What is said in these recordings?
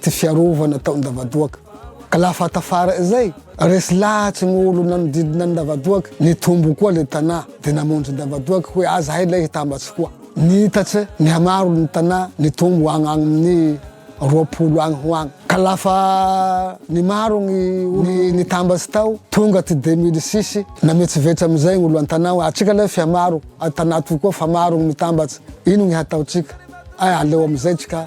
tsy fiarovana tao Ndavadoaka. Ka la fa tafarany zay, resy lahatry ny olo nanodidina an'i Ndavadoaka, nitombo koa le tanà, de namonjy Ndavadoaka hoe aza hay lay hitambatsy koa. Niitatra, nihamaro ny tanà, nitombo agny agnin'ny roapolo agny ho agny. Ka la fa nimaro gny olo nitambatsy tao, tonga ty deux mille six, nametsovetso amizay gny olo an-tanà hoe atsika lay f'ia maro, a tanà toy koa fa maro gny mitambatsy, ino gny hataotsika? Ay aleo amizay tsika.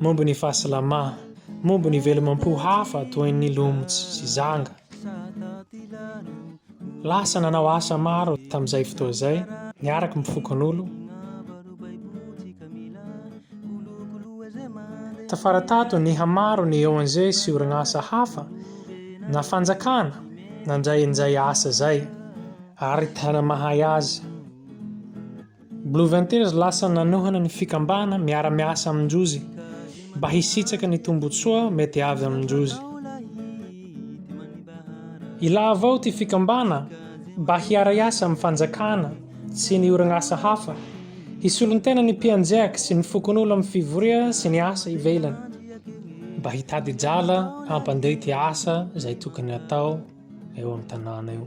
momba ny fahasalamana, momba ny velomam-po hafa toy ny lomotsy sy zanga. Lasa nanao asa maro tamin'izay fotoa izay, niaraka amin'ny fokonolona. Tafara tato nihamaro ny ONG sy orinasa hafa na fanjakana nandray an'izay asa izay ary tena mahay azy. Blue Ventures lasa nanohana ny fikambana miara-miasa amin-jozy mba hisitraka ny tombotsoa mety avy amin-jozy. Ilavo ao ity fikambana mba hiara-hiasa amin'ny fanjakana sy ny orinasa hafa, hisolon-tena ny mpianjeaky sy ny fokonolona amin'ny fivoria sy ny asa ivelany, mba hitady drala hampandeha ity asa izay tokony hatao eo amin'ny tanàna eo.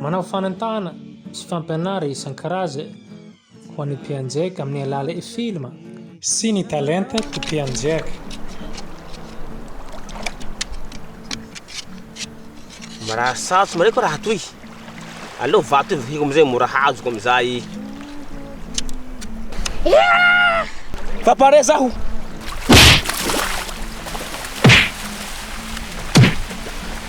Manao fanentana sy fampianara isan-karaza ho an'ny mpianjeka amin'ny alala e filma. Sy ny talenta ty mpianjeka. Mirary sarotra mareko raha toy. Aleo vato io vakiko amizay mora hazoko amizay. Fa pare zaho.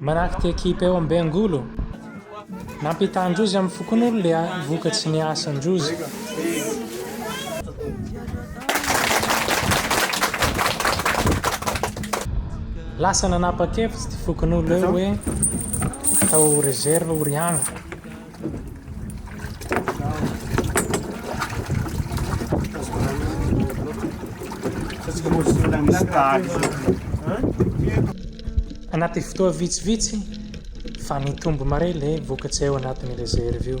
Manaky ty ekipa eo am bengolo. Nampitan drozy am fokonolo le vokatry ny asan drozy. Lasa nanapa kevitsy ty fokonolo eo hoe atao reserve ho riana. Anaty fotoa vitsivitsy fa nitombo mare ilay vokatra eo anatin'ny reserve io.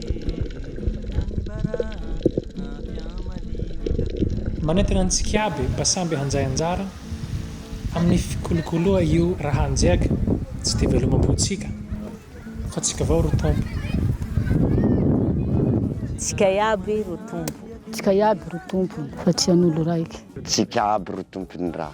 Manentana antsika iaby mba samby handray anjara amin'ny fikolokoloa io rahanjeaka tsy dia velomam-pontsika fa tsika vao ro tompo. Tsika iaby ro tompo. Tsika iaby ro tompony fa tsy an'olo raiky. Tsika aby ro tompon'ny raha.